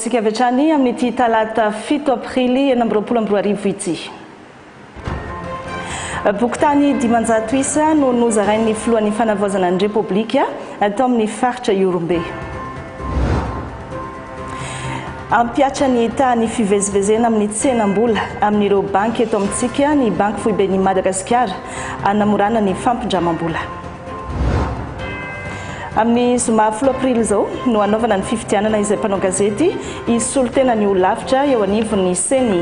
Tsika avy hatrany amin'ity talata fito aprily enina amby roapolo amby roa arivo ity. Bokotany dimanjato isa no nozarain'ny filohan'ny fanavaozana ny Repoblika tao amin'ny faritra Ihorombe. Ampihatra ny tahan'ny fivezivezena amin'ny tsenam-bola amin'ireo banky eto amintsika ny Banky Foiben'i Madagasikara hanamorana ny fampindramam-bola. Amin'ny zoma folo aprily izao no hanaovana ny fifidianana izay mpanao gazety hisolo tena ny ho lavitra eo anivon'ny ceni.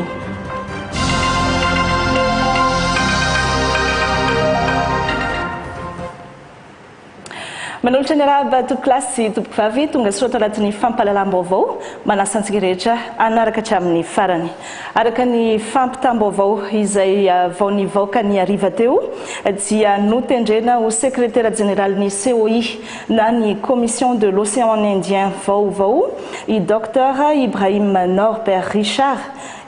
Manolotra ny arahaba tompoko lahy sy tompoko vavy tonga soa tao anatin'ny fampahalalam-baovao manasa antsika rehetra hanaraka hatramin'ny farany. Araka ny fampitam-baovao izay vao nivaoka ny hariva teo dia notendrena ho sekretera jeneralin'ny COI na ny Commission de l'Océan Indien vaovao i Doctor Ibrahim Norbert Richard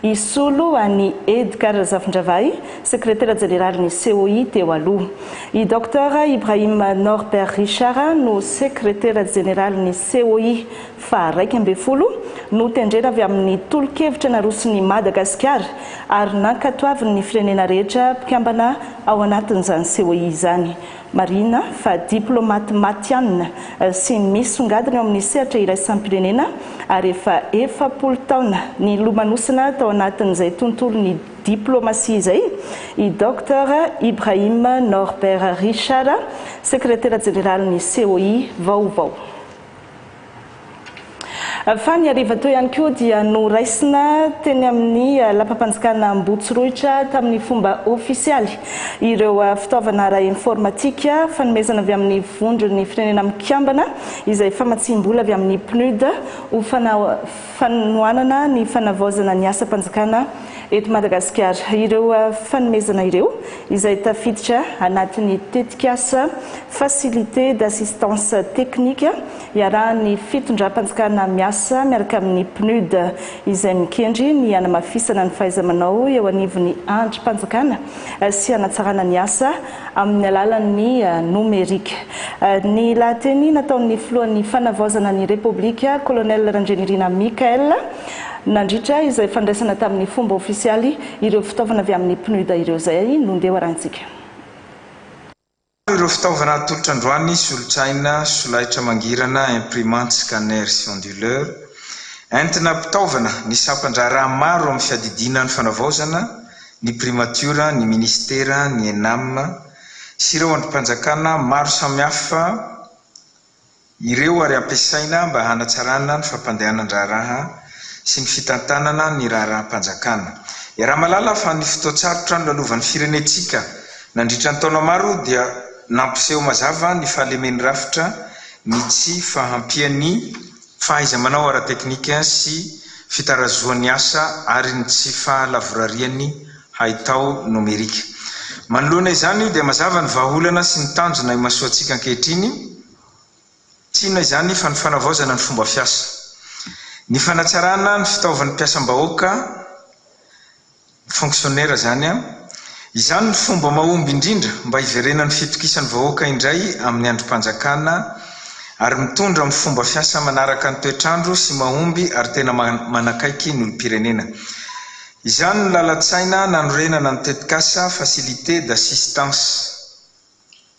hisolo an'i Edgar Razafindravahy, sekretera jeneralin'ny COI teo aloha. I Doctor Ibrahim Norbert Richard no sekretera jeneralin'ny COI faha iraika ambin'ny folo, notendrena avy amin'ny tolo-kevitra naroson'i Madagasikara ary nankatoavin'ny firenena rehetra mpikambana ao anatin'izany COI izany. Marihina fa diplaomaty matihanina sy misongadina eo amin'ny sehatra iraisam-pirenena ary efa efapolo taona nilomanosana tao anatin'izay tontolon'ny diplaomasia izay i Doctor Ibrahim Norbert Richard, Sekretera Jeneralin'ny COI vaovao. Fa ny hariva teo ihany koa dia noraisina teny amin'ny lapam-panjakana Ambohitsirohitra tamin'ny fomba ofisialy ireo fitaovana ara-informatika fanomezana avy amin'ny Vondron'ny Firenena Mikambana izay famatsiam-bola avy amin'ny PNUD ho fanao fanohanana ny fanavaozana ny asam-panjakana eto Madagasikara. Ireo fanomezana ireo, izay tafiditra anatin'ny tetikasa Facilité d'assistance technique iarahan'ny fitondram-panjakana miasa miaraka amin'ny PNUD, izay mikendry ny hanamafisana ny fahaiza-manao eo anivon'ny andrim-panjakana sy hanatsarana ny asa amin'ny alalan'ny nomerika. Ny lahateny nataon'ny filohan'ny Fanavaozana ny Repoblika, Colonel Randrianirina Michaël, nandritra izay fandraisana tamin'ny fomba ofisialy ireo fitaovana avy amin'ny PNUD ireo izay nondeha arahintsika. Maro ireo fitaovana atolotra androany, solotraina, solaitra mangirana, imprimante, scanner sy onduleur. Entina ampitaovana ny sampan-draharaha maro amin'ny fiadidiana ny fanavaozana ny Primatiora, ny Minisitera, ny Enam sy ireo andrim-panjakana maro samihafa ireo ary ampiasaina mba hanatsarana ny fampandehanan-draharaha sy ny fitantanana ny raharaham-panjakana. Iaraha-mahalala fa ny fotoan-tsarotra nolalovan' ny firenentsika nandritra ny taona maro dia nampiseho mazava ny fahalemen'ny rafitra ny tsy fahampian'ny fahaiza-manao ara-teknika sy fitarazohan'ny asa ary ny tsy fahalavorarian'ny haitao nomerika. Manoloana izany, dia mazava ny vahaolana sy ny tanjona imasoantsika ankehitriny, tsy inona izany fa ny fanavaozana ny fomba fiasa, ny fanatsarana ny fitaovan'ny mpiasam-bahoaka, Fonctionnaire izany an! Izany no fomba mahomby indrindra mba hiverenan'ny fitokisan'ny vahoaka indray amin'ny andrim-panjakana ary mitondra amin'ny fomba fiasa manaraka ny toetr'andro sy mahomby ary tena manakaiky ny olom-pirenena. Izany no lalan-tsaina nanorenana ny tetikasa Facilité d'assistance.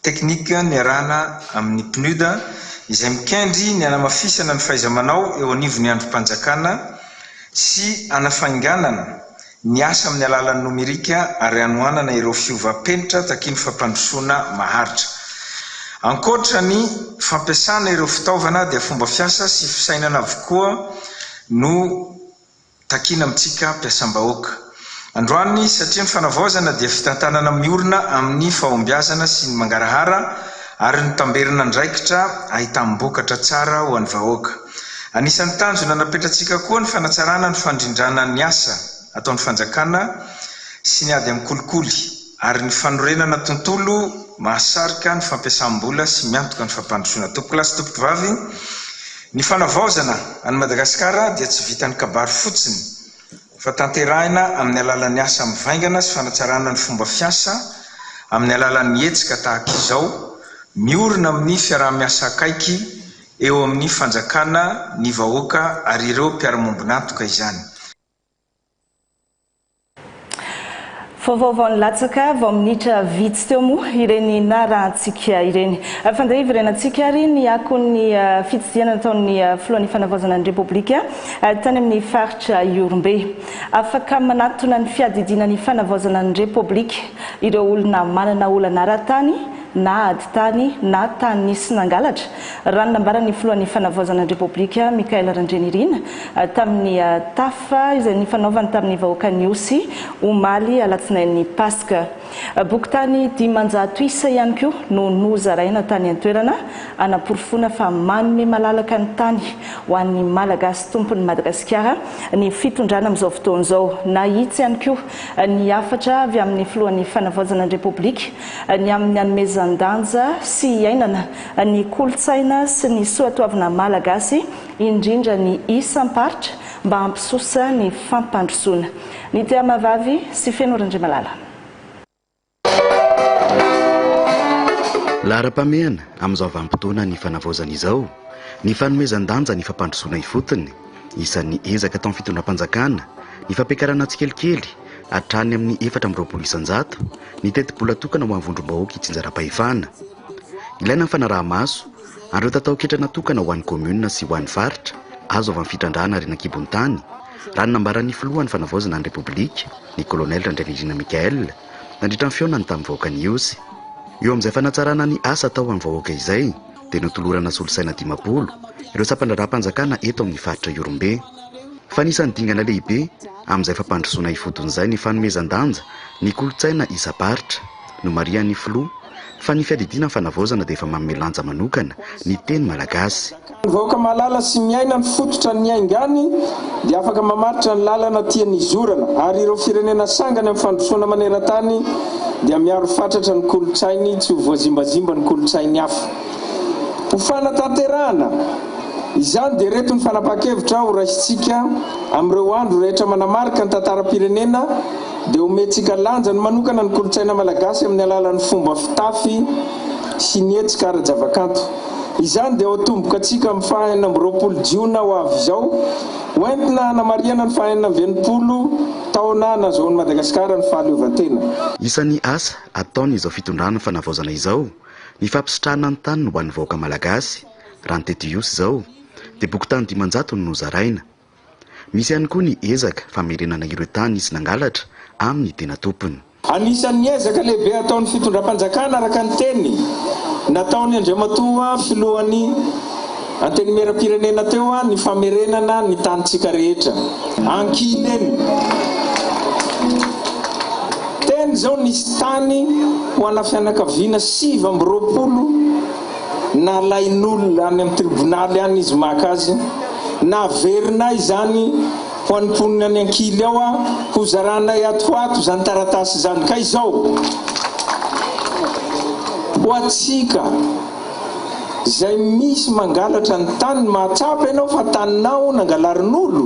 Teknika niarahana amin'ny PNUD izay mikendry ny hanamafisana ny fahaiza-manao eo anivon'ny andrim-panjakana sy hanafainganana ny asa amin'ny alalan'ny nomerika ary hanohanana ireo fiovam-penitra takian'ny fampandrosoana maharitra. Ankoatra ny fampiasana ireo fitaovana dia fomba fiasa sy fisainana avokoa no Takiana amintsika mpiasam-bahoaka androany satria ny fanavaozana dia fitantanana miorina amin'ny fahombiazana sy ny mangarahara ary notamberina andraikitra ahitam-bokatra tsara ho an'ny vahoaka. Anisan'ny tanjona napetratsika koa ny fanatsarana ny fandrindrana ny asa ataon'ny fanjakana sy ny ady amin'ny kolikoly ary ny fanorenana tontolo mahasarika ny fampiasam-bola sy miantoka ny fampandrosoana. Tompokolahy sy tompokovavy, Ny fanavaozana an'i Madagasikara dia tsy vitan'ny kabary fotsiny fa tanterahina amin'ny alalan'ny asa mivaingana sy fanatsarana ny fomba fiasa amin'ny alalan'ny hetsika tahaka izao miorina amin'ny fiaraha-miasa akaiky eo amin'ny fanjakana, ny vahoaka ary ireo mpiara-miombon'antoka izany. Vaovao vao nilatsaka vao minitra vitsy teo moa ireny narahantsika ireny. Fandre hiverenantsika ary ny akon'ny fitsidihana nataon'ny filohan'ny fanavaozana ny Repoblika tany amin'ny faritra Ihorombe. Afaka manatona ny fiadidiana ny fanavaozana ny Repoblika ireo olona manana olana ara-tany na ady tany na tany nisy nangalatra, raha ny nambaran'ny filohan'ny fanavaozana ny Repoblika, Michael Randrianirina, tamin'ny tafa izay nifanaovany tamin'ny vahoakan'i Osy, omaly alatsinain'ny Paska. Boky tany dimanjato isa ihany koa no nozaraina tany an-toerana, hanaporofoana fa manome malalaka ny tany ho an'ny Malagasy tompon'i Madagasikara ny fitondrana amin'izao fotoana izao. Nahitsy ihany koa ny hafatra avy amin'ny Filohan'ny Fanavaozana ny Repoblika ny amin'ny hanomezan-danja sy hiainana ny kolontsaina sy ny soatoavina malagasy, indrindra ny isam-paritra mba hampisosa ny fampandrosoana. Ny Tia Mahavavy sy Feno Randriamalala. Laharam-pahamehana amin'izao vanim-potoana ny fanavaozana izao, ny fanomezan-danja ny fampandrosoana ifotony, isan'ny ezaka ataon'ny fitondram-panjakana, ny fampiakarana tsikelikely hatrany amin'ny efatra amby roapolo isan-jato ny tetibola tokana ho an'ny vondrom-bahoaka itsinjaram-pahefana. Ilaina ny fanaraha-maso, ary ireo tatao-ketra natokana ho an'ny kaominina sy ho an'ny faritra, azo avy amin'ny fitrandrahana harena an-kibon'ny tany, raha ny nambaran'ny filohan'ny Fanavaozana ny Repoblika, ny kolonely Randrianirina Michaël, nandritra ny fihaonany tamin'ny vahoaka ny Ihosy. Eo amin'izay fanatsarana ny asa atao ho an'ny vahoaka izay, dia notolorana solosaina dimampolo ireo sampan-draharaham-panjakana eto amin'ny faritra Ihorombe. Fa anisan'ny dingana lehibe amin'izay fampandrosoana ifotony izay ny fanomezan-danja ny kolontsaina isam-paritra. Nomarihan'ny filoha fa ny fiadidiana ny fanavaozana dia efa manome lanja manokana ny teny malagasy. Ny vahoaka mahalala sy miaina ny fototra niaingany dia afaka mamaritra ny lalana tiany hizorana ary ireo firenena sangany amin'ny fandrosoana maneran-tany dia miaro fatratra ny kolontsainy tsy ho voazimbazimba ny kolontsain'ny hafa. Ho fanatanterahana izany dia ireto ny fanapahan-kevitra ho raisintsika amin'ireo andro rehetra manamarika ny tantaram-pirenena. dia omentsika lanjany manokana ny kolontsaina malagasy amin'ny alalan'ny fomba fitafy sy ny hetsika ara-javakanto. Izany dia ho atomboka antsika amin'ny faha enina amby roapolo jiona ho avy izao, ho entina hanamarihana ny faha enina amby enimpolo taona nahazoan'i Madagasikara ny fahaleovantena. Isan'ny asa ataon'izao fitondrana fanavaozana izao ny fampisitrahana ny taniny ho an'ny vahoaka malagasy, raha ny teto Ihosy izao dia boky tany dimanjato no nozaraina. Misy ihany koa ny ezaka famerenana ireo tany nisy nangalatra amin'ny tena tompony. Anisan'ny ezaka lehibe ataon'ny fitondram-panjakana araka ny teny nataony Andriamatoa Filohan'ny Antenimieram-pirenena teo ny famerenana ny tanintsika rehetra. Ankilany, teny izao nisy tany ho ana fianakaviana sivy amby roapolo. nalain'olona any amin'ny tribonaly any izy maka azy, naverinay izany ho an'ny mponina any ankily ao aho, hozaranay ato ho ato izany taratasy izany, ka izao, ho antsika izay misy mangalatra ny taniny, mahatsapa ianao fa taninao nangalarin'olo,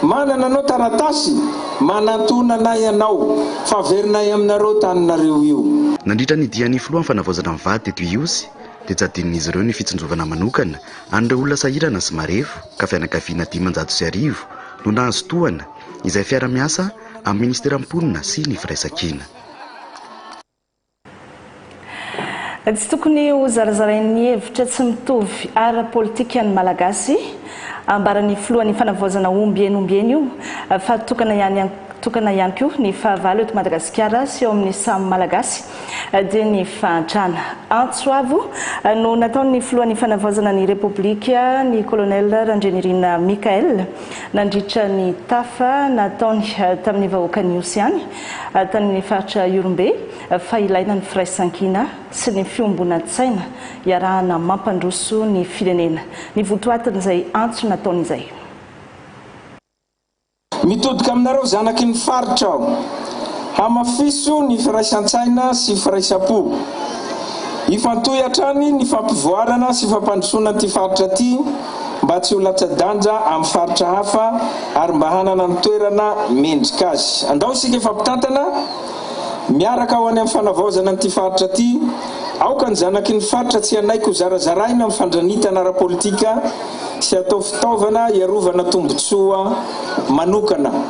Manana anao taratasy manantonana ianao fa averinay aminareo taninareo io. Nandritra ny dian'ny filoha amin'ny fanavaozana ny vady teto Ihosy dia jadin'izy ireo ny fitsinjovana manokana an'ireo olona sahirana sy marefo ka fianakaviana dimanjato sy arivo no nahazo tohana izay fiara-miasa amin'ny minisitera mponina sy ny firaisankina. Tsy tokony ho zarazarain'ny hevitra tsy mitovy ara-politika ny Malagasy. Ambaran'ny filohan'ny fanavaozana ombieny ombieny io fa tokana ihany tokana ihany koa ny fahavalo eto Madagasikara sy eo amin'ny samy Malagasy dia ny fahantrana. Antso avo no nataon'ny filohan'ny fanavaozana ny Repoblika ny Colonel Randrianirina Michaël nandritra ny tafa nataony tamin'ny vahoakan'Ihosy ihany Tany faritra Ihorombe fa ilaina ny firaisankina sy ny fiombonantsaina iarahana mampandroso ny firenena ny votoatin'izay antso nataony izay. Mitodika aminareo zanaky ny faritra aho, hamafiso ny firaisantsaina sy firaisam-po. Hifantohy hatrany ny fampivoarana sy fampandrosoana an'ity faritra ity. mba tsy ho latsa-danja amin'ny faritra hafa ary mba hanana ny toerana mendrika azy. Andao isika efa mpitantana miaraka ho any amin'ny fanavaozana an'ity faritra ity. Aoka ny zanaky ny faritra tsy hanaiky ho zarazaraina amin'ny fandranitana ara-politika sy hatao fitaovana hiarovana tombotsoa manokana.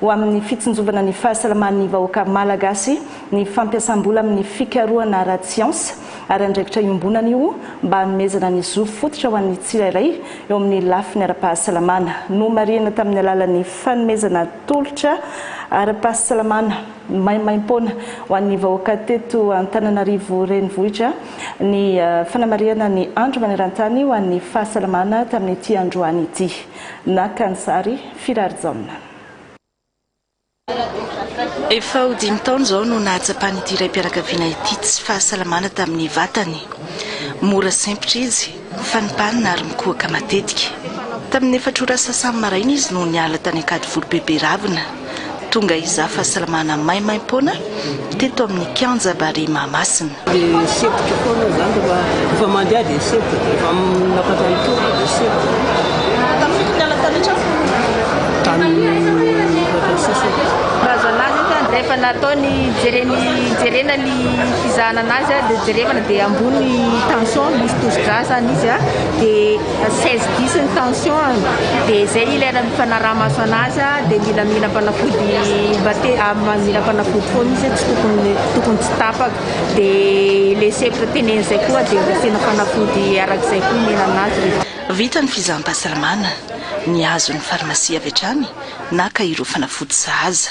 ho amin'ny fitsinjovana ny fahasalaman'ny vahoaka Malagasy ny fampiasam-bola amin'ny fikarohana ara-tsiansa ary andraikitra iombonana io mba hanomezana ny zo fototra ho an'ny tsirairay eo amin'ny lafiny ara-pahasalamana. Nomarihina tamin'ny alalan'ny fanomezana tolotra ara-pahasalamana maimaim-poana ho an'ny vahoaka teto Antananarivo Renivohitra ny fanamarihana ny andro maneran-tany ho an'ny fahasalamana tamin'ity androany ity. Naka ny sary, Firarijaona. Efa ho dimy taona izao no nahatsapan'ity raim-pianakaviana ity tsy fahasalamana tamin'ny vatany. Mora sempotra izy, fanimpanina ary mikohaka matetika. Tamin'ny efatra ora sasany maraina izy no niala tany Ankadivoro Beberavina. Tonga hizaha fahasalamana maimaim-poana teto amin'ny kianja Barea Mahamasina. Dia sempotro foana aho izany rehefa rehefa mandeha dia sempotro, rehefa miakatra ny tongotra dia sempotro. Tamin'ny fito ny alina talotra aho. Tamin'ny efatra sy sasany. Razana azy ohatra rehefa natao ny jereny jerena ny fizahana an'azy dia jerevana dia ambony ny tension misy tosidra zany izy dia seize bis ny tension dia zay ilay raha mifanaraha maso anazy dia mila mila fanafody bate mila fanafody foana izy tsy tokony tokony tsy tapaka dia le sefra teneny zay koa dia asiana fanafody arak'izay koa mila anazy Vita ny fizaham-pahasalamana, nihazo ny farmasia avy hatrany, naka ireo fanafody sahaza.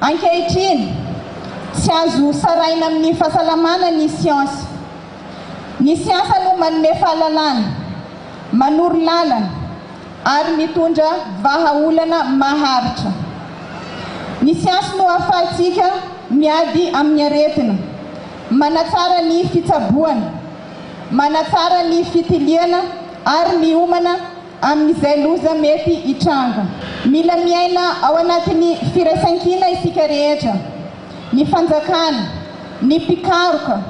Ankehitriny, tsy azo saraina amin'ny fahasalamana ny siansa. Ny siansa no manome fahalalana, manoro lalana ary mitondra vahaolana maharitra. Ny siansa no ahafahantsika miady amin'ny aretina, manatsara ny fitsaboana, manatsara ny fitiliana ary miomana amin'izay loza mety hitranga. Mila miaina ao anatin'ny firaisankina isika rehetra, ny fanjakana, ny mpikaroka,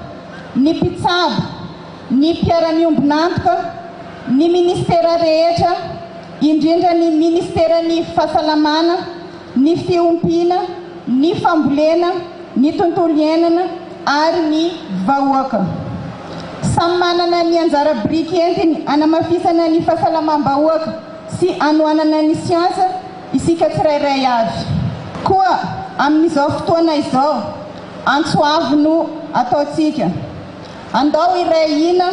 ny mpitsabo, ny mpiara-miombon'antoka, ny ministera rehetra, indrindra ny ministeran'ny Fahasalamana, ny fiompiana, ny fambolena, ny tontolo iainana ary ny vahoaka. Samy manana ny anjara biriky entiny hanamafisana ny fahasalamam-bahoaka sy hanohanana ny siansa isika tsirairay avy. Koa amin'izao fotoana izao, antso avo no ataontsika. Andao hiray hina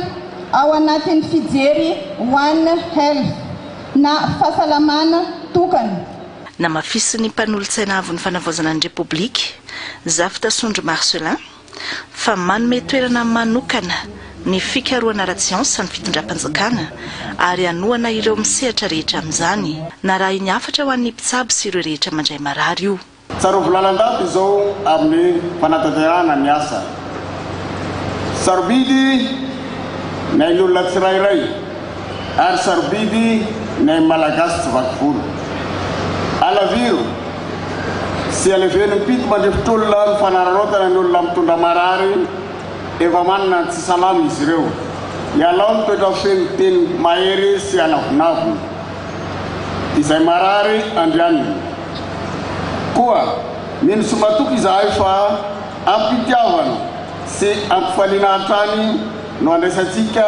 ao anatin'ny fijery One Health na Fahasalamana tokana Namafisin'ny mpanolotsaina avon'ny fanavaozana ny Repoblika, Zafy Tasondry Marcelin, fa manome toerana manokana ny fikarohana ara-tsiansa ny fitondram-panjakana ary hanohana ireo misehatra rehetra amin'izany. Narahiny hafatra ho an'ny mpitsabo sy ireo rehetra mandray marary io. Tsarovy lalandava izao amin'ny fanatanterahana ny asa. Sarobidy ny ain'olona tsirairay. ary sarobidy ny ain'ny Malagasy tsy vaky volo. Alaviro sy aleven'ny mpito mandrifitr'olona ny fanararaotana ny olona mitondra marary efa manana ny tsy salama izy ireo. Ialao ny toetra feno teny mahery sy anavonavona. Izay marary andrianina. Koa mino sy matoky izahay fa ampitiavana sy ampifaliana hatrany no andraisantsika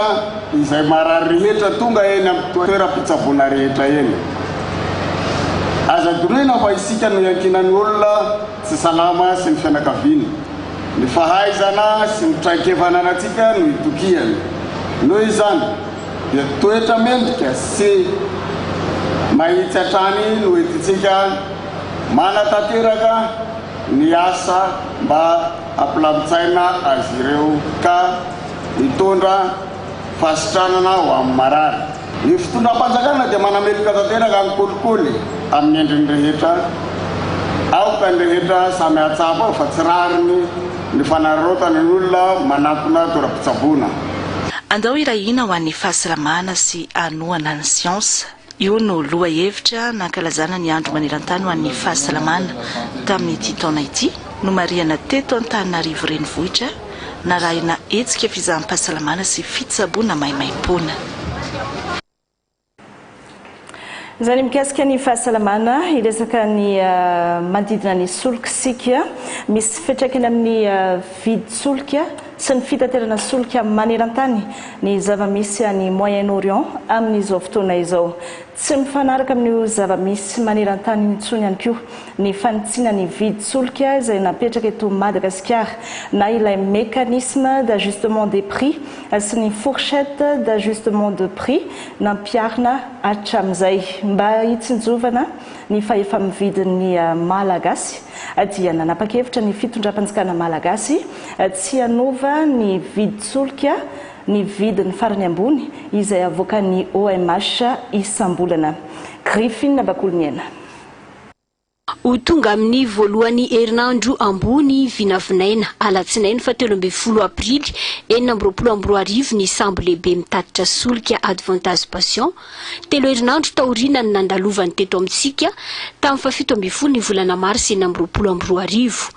izay marary rehetra tonga eny amin'ny toeram-pitsaboana rehetra eny. Aza dorohina fa isika no iankinan'ny olona tsy salama sy ny fianakaviany. Ny fahaizana sy ny traikefa ananantsika no itokiany. Noho izany dia toetra mendrika sy mahitsy hatrany no entintsika manatanteraka ny asa mba Hampilamin-tsaina azy ireo ka hitondra fahasitranana ho amin'ny marary. Ny fitondram-panjakana dia manameloka tanteraka ny kolikoly amin'ny endriny rehetra. Aoka ny rehetra samy hahatsapa ao fa tsy rariny ny fanararaotana ny olona manatona toeram-pitsaboana. Andao hirahina ho an'ny fahasalamana sy hanohana ny siansa. Io no lohahevitra nankalazana ny Andro maneran-tany ho an'ny fahasalamana tamin'ity taona ity, nomarihana teto Antananarivo Renivohitra, narahina hetsika fizaham-pahasalamana sy fitsaboana maimaim-poana. Izany mikasika ny fahasalamana, hiresaka ny manodidina ny solika isika. Misy fiantraikany amin'ny vidin-tsolika sy ny fitaterana solika maneran-tany ny zava-misy any Moyen-Orient amin'izao fotoana izao. Tsy mifanaraka amin'io zava-misy maneran-tany io intsony ihany koa ny fanitsiana ny vidin-tsolika izay napetraka eto Madagasikara na ilay mécanisme d'ajustement des prix sy ny fourchette d'ajustement de prix nampiharina hatramin'izay mba hitsinjovana Ny fahefa-mividin'ny Malagasy dia nanapa-kevitra ny fitondram-panjakana Malagasy tsy hanova ny vidin-tsolika ny vidiny farany ambony izay avoakan'ny OMH isam-bolana. Griffin Bakoloniaina. Ho tonga amin'ny voalohan'ny herinandro ambony vinavinaina, alatsinainy fahatelo ambin'ny folo aprily enina amby roapolo amby roa arivo ny sambo lehibe mitatitra solika Advantage Passion, Telo herinandro taoriana ny nandalovany teto amintsika, tamin'ny fahafito ambin'ny folo ny volana marsa enina amby roapolo amby roa arivo.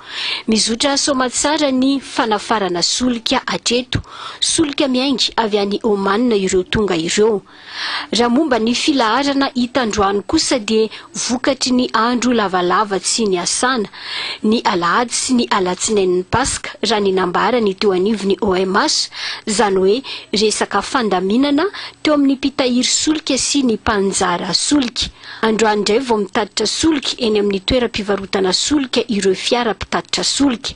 Mizotra soamantsara ny fanafarana solika hatreto, solika miainga avy any Oman ireo tonga ireo. Raha momba ny filaharana hita androany kosa dia vokatry ny andro lavalava tsy niasana, ny alahady sy ny alatsinain'ny Paska, raha ny nambarany teo anivon'ny OMH, izany hoe resaka fandaminana teo amin'ny mpitahiry solika sy ny mpanjara solika. Androany indray vao mitatitra solika eny amin'ny toeram-pivarotana solika ireo fiara mpitatitra solika.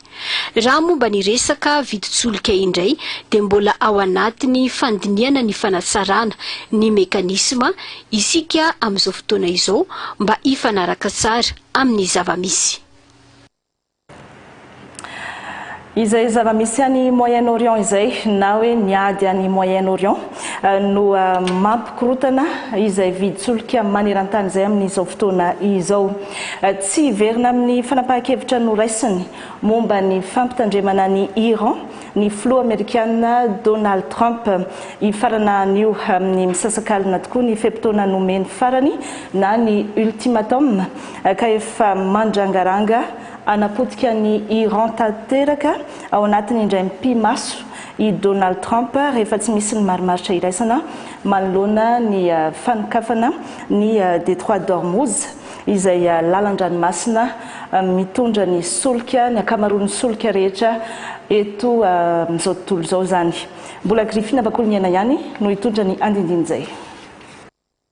Raha momba ny resaka vidin-tsolika indray dia mbola ao anatin'ny fandinihana ny fanatsarana ny mekanisma isika amin'izao fotoana izao mba hifanaraka tsara amin'ny zava-misy. Izay zava-misy any Moyen-Orient izay, na hoe ny ady any Moyen-Orient, no mampikorotana izay vidin-tsolika maneran-tany izay amin'izao fotoana izao. Tsy hiverina amin'ny fanapahan-kevitra noraisiny momba ny fampitandremana an'i Iran ny filoha amerikana Donald Trump hifarana anio amin'ny misasakalina tokoa ny fe-potoana nomeny farany na ny ultimatum ka efa mandrangaranga hanapotika an'i Iran tanteraka ao anatiny indray mipi-maso i Donald Trump rehefa tsy misy ny marimaritra iraisana manoloana ny fanokafana ny Detroit d'Ormuz. izay lalan-dranomasina mitondra ny solika, ny ankamaroan'ny solika rehetra eto amin'izao tontolo izao izany. Mbola Griffin Bakoloniaina ihany no hitondra ny andindiny izay.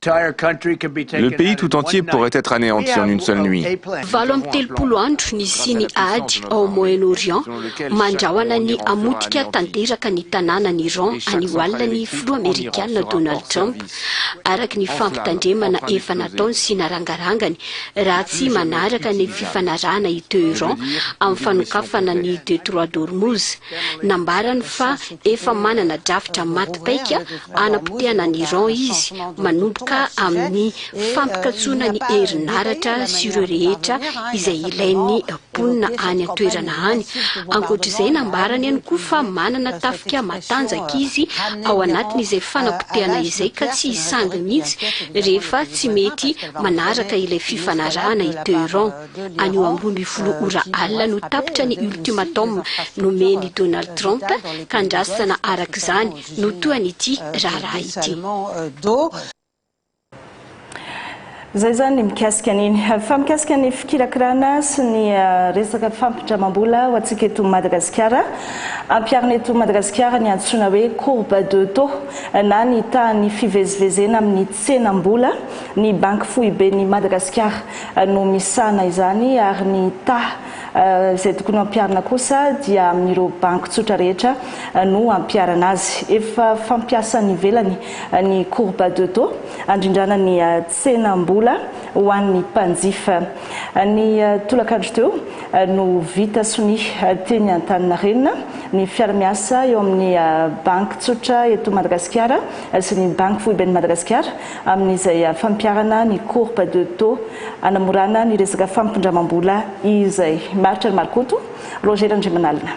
Le pays tout entier pourrait être aneanti en une seule nuit. Valo amby telopolo andro nisian'ny ady ao Moyen-Orient, mandrahona ny hamotika tanteraka ny tanànan'i Iran anio alina ny filoha amerikana Donald Trump, araka ny fampitandremana efa nataony sy narangarangany raha tsy manaraka ny fifanarahana i Teheran amin'ny fanokafana ny Detroit d'Hormuz. Nambarany fa efa manana drafitra maty paika hanapotehana an'i Iran izy manomboka amin'ny fampikatsoana ny herinaratra sy ireo rehetra izay ilain'ny mponina any an-toerana any. Ankoatra izay, nambarany ihany koa fa manana tafika matanjaka izy ao anatiny izay fanapotehana izay ka tsy hisangy mihitsy rehefa tsy mety manaraka ilay fifanarahana i Tehran. Anio ambroa ambin'ny folo ora alina no tapitra ny ultimatum nomen'i Donald Trump ka andrasana araka izany no tohan'ity raharaha ity. Izay izany ny mikasika an'iny. Fa mikasika ny fikirakirana sy ny resaka fampindramam-bola ho antsika eto Madagasikara, ampiharina eto Madagasikara ny antsoina hoe courbe de taux na ny tahan'ny fivezivezena amin'ny tsenam-bola. Ny Banky Foiben'i Madagasikara no misahana izany ary ny taha izay tokony hampiharina kosa dia amin'ireo banky tsotra rehetra no hampiharana azy. Efa fampiasa any ivelany ny courbe de taux handrindrana ny tsenam-bola ho an'ny mpanjifa. Ny tolakandro teo no vita sonia teny Antaninarenina ny fiara-miasa eo amin'ny Banky tsotra eto Madagasikara sy ny Banky foiben'i Madagasikara amin'izay fampiharana ny courbe de taux hanamorana ny resaka fampindramam-bola izay. Maharitra ny Marokoto, Roger Randriamanalina.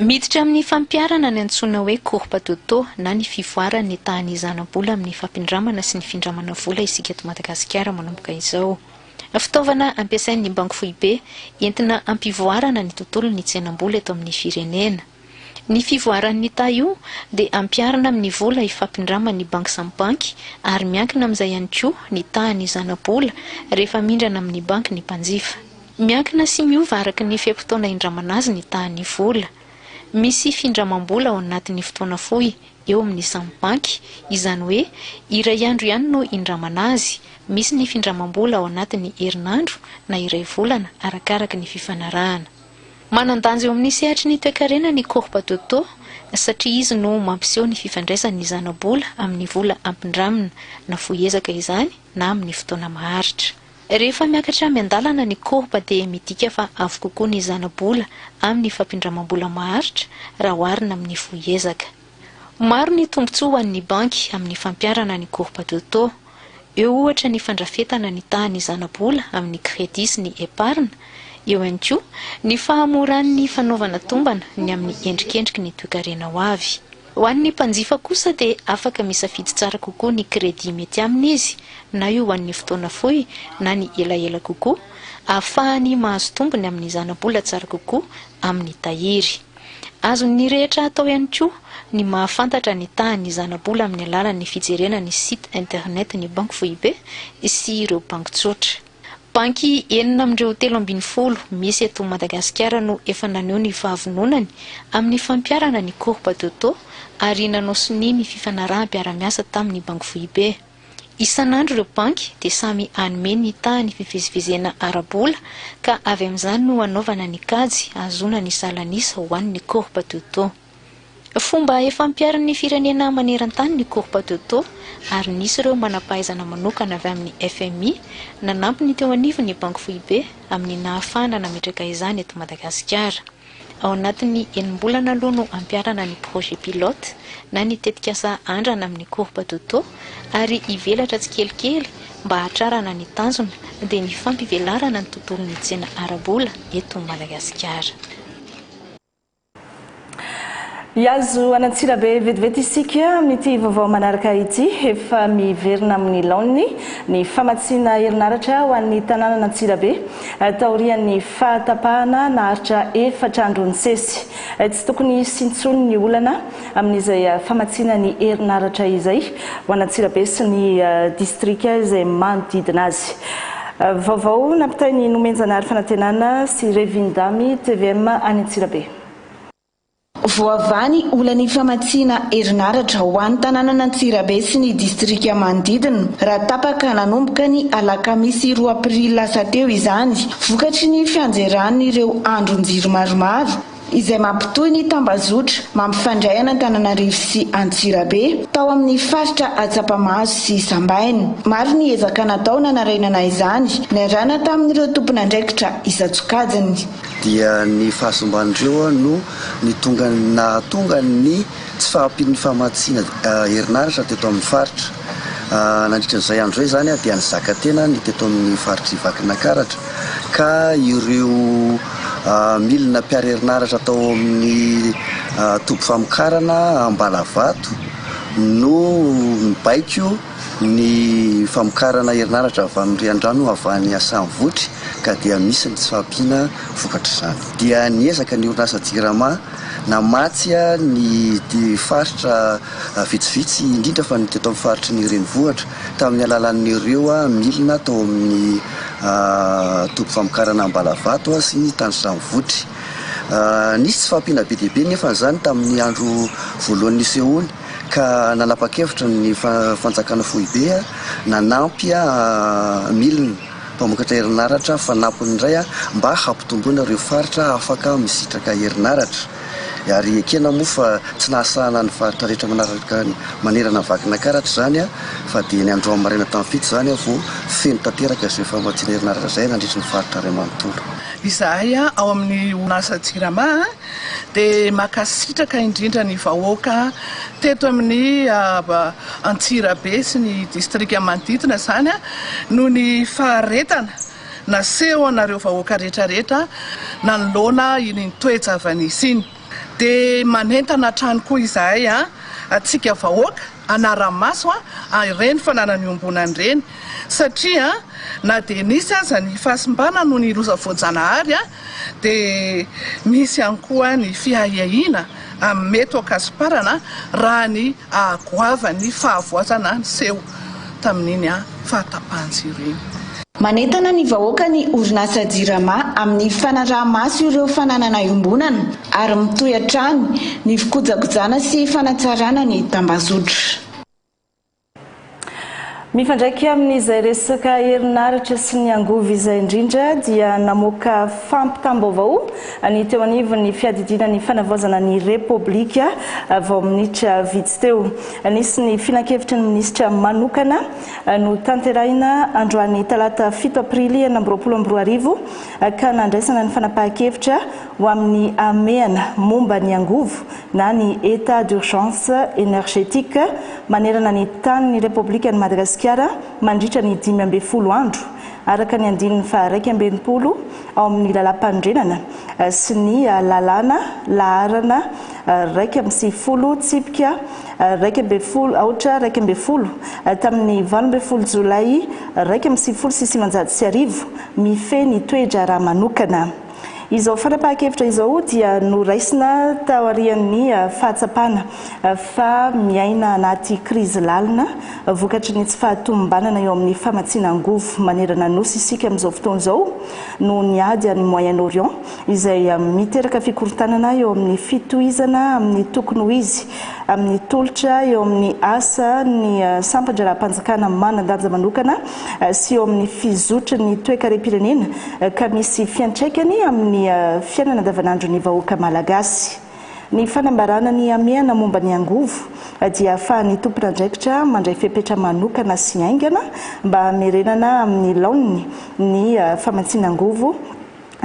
Miditra amin'ny fampiharana ny antsoina hoe courbe d'Otto na ny fivoaran'ny tahan'ny zana-bola amin'ny fampindramana sy ny findramana vola isika eto Madagasikara manomboka izao. Fitaovana ampiasain'ny Banky Foibe entina hampivoarana ny tontolon'ny tsenam-bola eto amin'ny firenena. Ny fivoaran'ny taha io dia ampiharina amin'ny vola ifampindraman'ny banky samy banky ary miankina amin'izay ihany koa ny tahan'ny zana-bola rehefa mindrana amin'ny banky ny mpanjifa. Miankina sy miova araka ny fe-potoana indramana azy ny tahan'ny vola. Misy findramam-bola ao anatin'ny fotoana fohy eo amin'ny samy banky, izany hoe iray andro ihany no indramana azy. Misy ny findramam-bola ao anatin'ny herinandro na iray volana arakaraka ny fifanarahana. Manan-danja eo amin'ny sehatry ny toekarena ny Corpa Toto satria izy no mampiseho ny fifandraisan'ny zana-bola amin'ny vola ampindramina, na fohy ezaka izany na amin'ny fotoana maharitra. Rehefa miakatra miandalana ny courbe dia midika fa avo kokoa ny zana-bola amin'ny fampindramam-bola maharitra raha oharina amin'ny fohy ezaka. Maro ny tombontsoa ho an'ny banky amin'ny fampiharana ny courbe de taux. Eo ohatra ny fandrafetana ny tahan'ny zana-bola amin'ny crédit sy ny épargne, eo ihany koa ny fahamoran'ny fanaovana tombana ny amin'ny endrikendriky ny toekarena ho avy. Ho an'ny mpanjifa kosa dia afaka misafidy tsara kokoa ny crédit mety aminy izy, na io ho an'ny fotoana fohy na ny elaela kokoa, ahafahany mahazo tombony amin'ny zana-bola tsara kokoa amin'ny tahiry. Azon'ny rehetra atao ihany koa ny mahafantatra ny tahan'ny zana-bola amin'ny alalan'ny fijerena ny site internet ny Banky Foibe sy ireo banky tsotra. Banky enina amin'ireo telo ambin'ny folo misy eto Madagasikara no efa naneho ny fahavononany amin'ny fampiharana ny courbe de taux ary nanao sonia ny fifanaraham-piarahamiasa tamin'ny Banky Foibe. Isan'andro ireo banky dia samy hanome ny tahan'ny fivezivezena ara-bola ka avy amin'izany no hanaovana ny kajy hahazoana ny salan'isa ho an'ny courbe de taux. Fomba efa ampiharin'ny firenena maneran-tany ny courbe de taux ary nisy ireo manam-pahaizana manokana avy amin'ny fmi nanampy ny teo anivon'ny Banky Foibe amin'ny nahafahana nametraka izany eto Madagasikara. Ao anatin'ny enim-bolana aloha no hampiharana ny projet pilote na ny tetikasa andrana amin'ny courbe de taux ary hivelatra tsikelikely mba hahatrarana ny tanjona dia ny fampivelarana ny tontolon'ny tsena ara-bola eto Madagasikara. Hiazo an'Antsirabe vetivety isika amin'ity vaovao manaraka ity. Efa miverina amin'ny laoniny ny famatsiana herinaratra ho an'ny tanànan'Antsirabe taorian'ny fahatapahana naharitra efatra andro nisesy. Tsy tokony hisy intsony ny olana amin'izay famatsiana ny herinaratra izay ho an'Antsirabe sy ny distrika izay manodidina azy. Vaovao nampitain'i Nomenjanahary Fanantenana sy Revindamy, tvm any Antsirabe. Voavaha ny olan'ny famatsiana herinaratra ho an'ny tanànan'Antsirabe sy ny distrika manodidina raha tapaka nanomboka ny alakamisy roa aprily lasa teo izany vokatry ny fianjeran'ireo andron-jiro maromaro izay mampitohy ny tambazotra mampifandray an'Antananarivo sy Antsirabe, tao amin'ny faritra Atsapamahazo sy Sambaina. Maro ny ezaka natao nanarenana izany, niarahana tamin'ireo tompon'andraikitra isan-tsokajiny. Dia ny fahasimban'ireo no nitongany nahatonga ny tsy fahampian'ny famatsiana herinaratra teto amin'ny faritra. Nandritra izay andro izay izany dia nizaka tena ny teto amin'ny faritr'i Vakinankaratra ka ireo milina mpiaro herinaratra tao amin'ny toby famokarana Ambalavato no nibaiko ny famokarana herinaratra avy amin'ny riandrano avy any Assanivotry ka dia misy ny tsy fahampiana vokatr'izany. Dia niezaka ny orinasa Jirama. Namatsy ny faritra vitsivitsy indrindra fa ny teto amin'ny faritry ny renivohitra tamin'ny alalan'ireo milina tao amin'ny toby famokarana Ambalavato sy ny Tandrosano Votry. Nisy tsy fahampiana be dia be anefa izany tamin'ny andro voalohany nisehoany ka nanapa-kevitra ny fanjakana foibe nanampy milina. Mpamokatra herinaratra fanampiny indray mba hampitomboana ireo faritra afaka misitraka herinaratra. Ary ekena moa fa tsy nahasahana ny faritra rehetra manaraka manerana ny Vakinankaratra izany fa dia ny androany maraina tamin'ny fito izany vao feno tanteraka izay famatsiana herinaratra izay nandritry ny faritra iray manontolo. Izahay ao amin'ny orinasa Jirama Dia makasitraka indrindra ny vahoaka teto amin'ny Antsirabe sy ny distrika manodidina izany noho ny faharetana naseho anareo vahoaka rehetra rehetra nanoloana iny toe-java-nisy iny. Dia manentana hatrany koa izahay antsika vahoaka hanara-maso ireny fananana iombonana ireny satria na dia nisy aza ny fahasimbana noho ny loza voajanahary dia misy ihany koa ny fiahiahiana amin'ny mety ho an-kasomparana raha ny hahagoavan'ny fahavoazana niseho tamin'iny fahatapahan-jiro iny. Manentana ny vahoaka ny orinasa Jirama amin'ny fanaraha-maso ireo fananana iombonana ary mitohy hatrany ny fikojakojana sy fanatsarana ny tambazotra. Mifandraika amin'izay resaka herinaratra sy ny angovo izay indrindra dia namoaka fampitam-baovao ny teo anivon'ny fiadidiana ny fanavaozana ny Repoblika vao minitra vitsy teo. Nisy ny filankevitry ny minisitra manokana notanterahina androany talata fito aprily enina amby roapolo amby roa arivo ka nandraisana ny fanapahan-kevitra ho amin'ny hamehana momba ny angovo na ny Etat d'urgence energetique manerana ny tanin'ny Repoblikan'i Madagasikara mandritra ny dimy ambin'ny folo andro, araka ny andininy faha-iraika amby enimpolo ao amin'ny Lalàmpanorenana sy ny Lalàna laharana iraika amby sivifolo tsipika iraika ambin'ny folo, aotra iraika ambin'ny folo, tamin'ny valo ambin'ny folo Jolay iraika amby sivifolo sy sivinjato sy arivo, mifehy ny toe-draharaha manokana. Izao fanapahan-kevitra izao dia noraisina taorian'ny fahatsapana fa miaina anaty krizy lalina vokatry ny tsy fahatomombanana eo amin'ny famatsiana angovo manerana Nosy isika amin'izao fotoana izao noho ny ady any Moyen-Orient izay miteraka fikorontanana eo amin'ny fitohizana amin'ny tokony ho izy amin'ny tolotra eo amin'ny asa ny sampan-draharaham-panjakana manan-danja manokana sy eo amin'ny fizotry ny toekarem-pirenena ka misy fiantraikany amin'ny fiainana andavanandron'ny vahoaka malagasy. Ny fanambarana ny hamehana momba ny angovo dia ahafahan'ny tompon'andraikitra mandray fepetra manokana sy haingana mba hamerenana amin'ny laoniny ny famatsiana angovo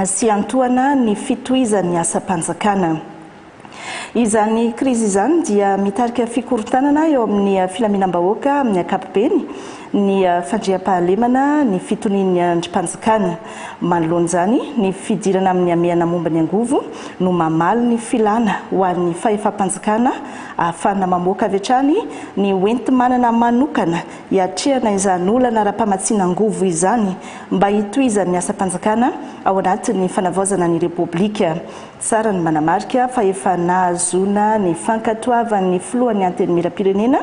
sy hiantohana ny fitohizan'ny asam-panjakana. Izany krizy izany dia mitarika fikorontanana eo amin'ny filaminam-bahoaka amin'ny ankapobeny, ny fandriampahalemana, ny fitonian'ny andrim-panjakana. Manoloana izany, ny fidirana amin'ny hamehana momba ny angovo no mamaly ny filana ho an'ny fahefam-panjakana ahafahana mamoaka avy hatrany ny hoenti-manana manokana hiatrehana izany olana ara-pamatsiana angovo izany mba hitohizan'ny asam-panjakana ao anatin'ny fanavaozana ny Repoblika Tsara ny manamarika fa efa nahazoana ny fankatoavan'ny filohan'ny Antenimierampirenena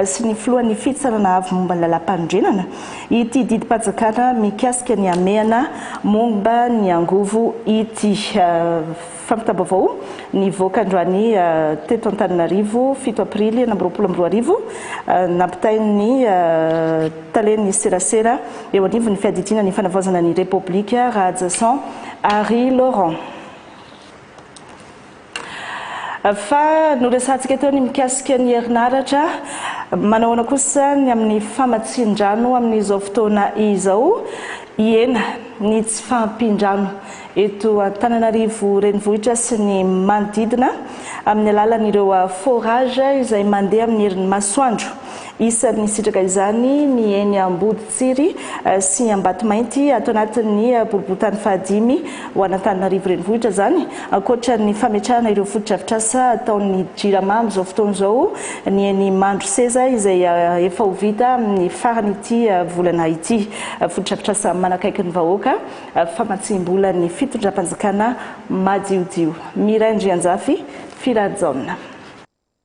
sy ny filohan'ny Fitsarana Avo momba ny Lalàmpanorenana ity didim-panjakana mikasika ny hamehana momba ny angovo ity. Fampitam-baovao nivoaka androany teto Antananarivo, fito aprily enina amby roapolo amby roa arivo, nampitain'ny. talen'ny serasera eo anivon'ny fiadidiana ny fanavaozana ny Repoblika, Rahajason Harry Laurent. Fa noresahantsika teo ny mikasika ny herinaratra, manahoana kosa ny amin'ny famatsian-drano amin'izao fotoana izao? Hihena ny tsy fahampian-drano eto Antananarivo renivohitra sy ny manodidina amin'ny alalan'ireo forage izay mandeha amin'ny herin'ny masoandro. Isan'ny nisitraka izany ny eny Amboditsiry sy Ambatomainty ato anatin'ny boriborintany fahadimy ho an'Antananarivo renivohitra izany. Ankoatra ny fametrahana ireo fotodrafitrasa ataon'ny Jirama amin'izao fotoana izao ny eny Mandroseza izay efa ho vita amin'ny faran'ity volana ity. Fotodrafitrasa manakaiky ny vahoaka, famatsiam-bola ny fitondram-panjakana madiodio. Miray Andrianjafy, Firary Jaona.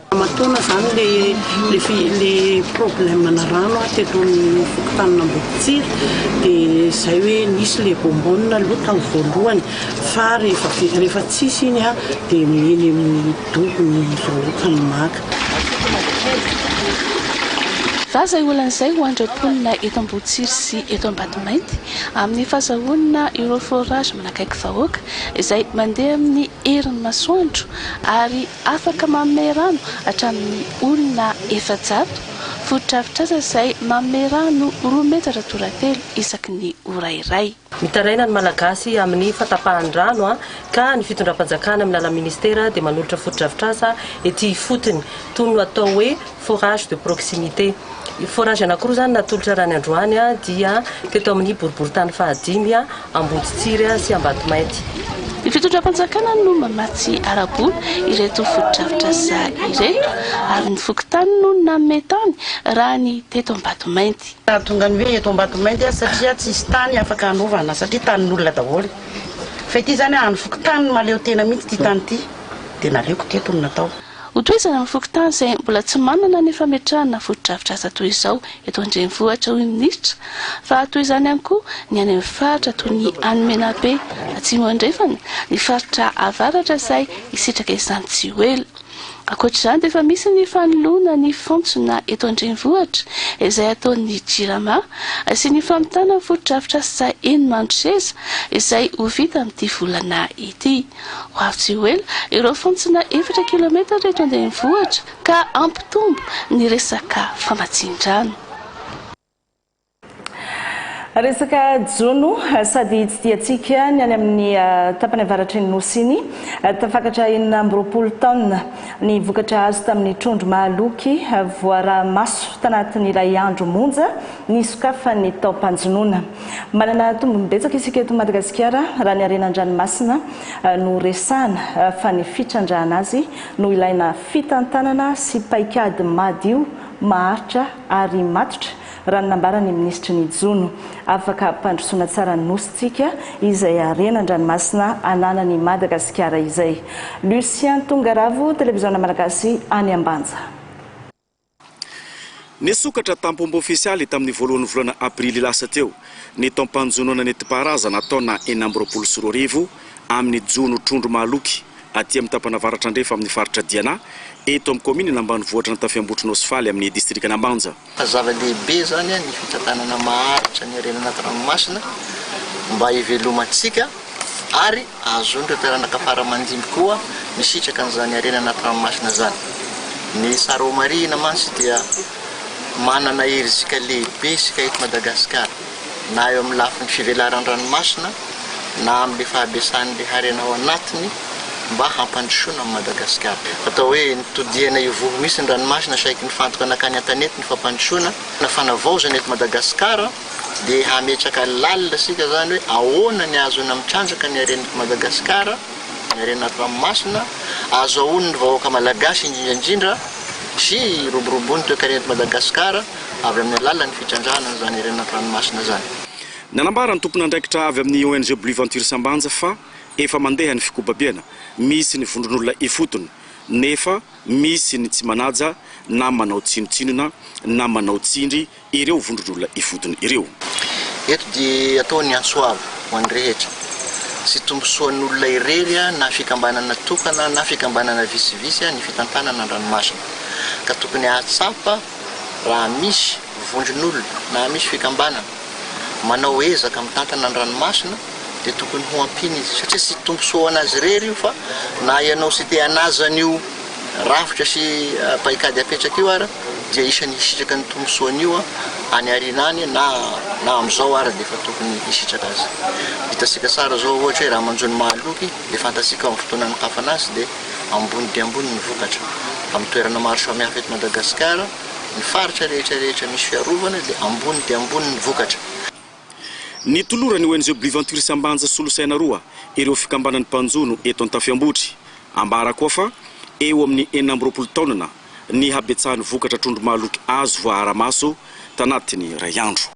Ramatoana zany le le problème na rano a teto amin'ny fokontanin'Ambohitsiry de zay hoe nisy le bonbonne aloha tao voalohany fa rehefa rehefa tsisy iny a de eny amin'ny dobo ny vahoaka ny maka. Fa zay olana zay ho andreo mponina eto Ambohitsiry sy eto Ambatomainty amin'ny fazahoana ireo forage manakaiky vahoaka izay mandeha amin'ny herin'ny masoandro ary afaka manome rano hatramin'ny olona efajato fotodrafitrasa izay manome rano roa metatra toratelo isaky ny ora iray. Mitaraina ny Malagasy amin'ny fatapahan'ny rano ka ny fitondram-panjakana amin'ny alalan'ny Ministera dia manolotra fotodrafitrasa ety ifotony, toy ny atao hoe Forage de proximité. Forage anankiroa izany no natolotra raha ny androany dia teto amin'ny boriborintany fahadimy Amboditsiry sy Ambatomainty. Ny fitondram-panjakana no mamatsy ara-bola ireto fotodrafitrasa ireto ary ny fokontany no nanome tany raha ny teto Ambatomainty. Nahatonga ny hoe eto Ambatomainty satria tsisy tany afaka hanaovana satria tanin'olona daholo. Fa ity izany an'ny fokontany no mahaleo tena mihitsy ity tany ity dia naleoko teto no natao. Ho tohizana amin'ny fokontany izay mbola tsy manana ny fametrahana fotodrafitrasa toy izao eto an-drenivohitra, hoy ny minisitra, fa toy izany ihany koa ny any amin'ny faritra toy ny any Menabe Atsimo Andrefana, ny faritra Avaratra izay hisitraka izany tsy ho ela. Ankoatra izany dia efa misy ny fanoloana ny fantsona eto an-drenivohitra izay ataon'ny Jirama sy ny famitana ny fotodrafitrasa enim-andro seza izay ho vita amin'ity volana ity. Ho avy tsy ho ela ireo fontsina efatra kilometatra eto an-drenivohitra ka hampitombo ny resaka famatsian-drano. Resaka jono sady tsy dia tsiky ny any amin'ny tapany avaratry ny Nosy iny. Tafakatra enina amby roapolo taonina ny vokatra azo tamin'ny trondro mahaloky voaraha-maso tanatin'ny iray andro monja nisokafan'ny taom-panjonoana. Manana tombony betsaka isika eto Madagasikara raha ny harena an-dranomasina no resahana fa ny fitrandrahana azy no ilaina fitantanana sy paikady madio, maharitra ary matotra raha ny nambaran'ny minisitry ny Jono. Afaka hampandrosoana tsara ny Nosintsika izay harena an-dranomasina ananan'i Madagasikara izay. Lucien Tongaravo, Televiziona Malagasy any Ambanja. Nisokatra tamponba ofisialy tamin'ny voalohan'ny volana aprily lasa teo ny taom-panjonoana nentim-paharazana atao na enina amby roapolo sy roa arivo amin'ny jono trondro mahaloky aty amin'ny tapana avaratra andrefa amin'ny faritra Diana eto amin'ny kaominina ambanivohitr'Antafiambotrona Nosy Faly amin'ny distrikan'Ambanja. Zava-dehibe izany ny fitantanana maharitra ny harena anaty ranomasina mba hivelomantsika. ary ahazoan'ireo taranaka fara aman-dimby koa misitraka an'izany harena anaty ranomasina izany. Ny Sarao Marihina mantsy dia manana herizika lehibe isika eto Madagasikara, na eo amin'ny lafiny fivelaran'ny ranomasina na amin'ilay fahabesan'ilay harena ao anatiny mba hampandrosoana an'i Madagasikara. Atao hoe nitodihana ivoho mihitsy ny ranomasina saiky nifantoka nankany an-tanety ny fampandrosoana na fanavaozana eto Madagasikara. dia hametraka lalina isika izany hoe ahoana ny ahazoana mitrandraka ny haren'i Madagasikara, ny harena ranomasina, ahazoaon'ny vahoaka malagasy indrindra indrindra sy hiroboroboan'ny toekarena eto Madagasikara avy amin'ny alalan'ny fitrandrahana an'izany harena an-tranomasina izany. Nanambara ny tompon'andraikitra avy amin'ny ONG Blue Venture Sambanja fa efa mandeha ny fikobabiana, misy ny vondron'olona ifotony nefa misy ny tsy manaja na manao tsinontsinona na manao tsindry ireo vondron'olona ifotony ireo. Eto dia atao ny antso avo ho an'ny rehetra sy tombosoan'olona irery na fikambanana tokana na fikambanana vitsivitsy ny fitantanana an-dranomasina ka tokony hahatsapa raha misy vondron'olona na misy fikambanana manao ezaka mitantana an-dranomasina dia tokony ho ampiana izy satria tsy tombosoa ho an'azy irery io fa na ianao sy te-hanaja an'io rafitra sy paikady apetraka io ary dia isan'ny hisitraka ny tombontsoa anio any aoriana any na na amin'izao ary dia efa tokony hisitraka aza. Hitantsika tsara izao ohatra hoe raha manjo ny mahaloky dia fantantsika amin'ny fotoana anokafana azy dia ambony dia ambony ny vokatra. Amin'ny toerana maro samihafa eto Madagasikara, ny faritra rehetra rehetra misy fiarovana dia ambony dia ambony ny vokatra. Nitoloran'ny ONG Blue Venture Sambanja solosaina roa ireo fikambanan'ny mpanjono eto Antafiambotry. Ambarako ao fa eo amin'ny enina amby roapolo taonana. ny habetsahan'ny vokatra trondro mahaloky azo voaara-maso tanatin'ny iray andro.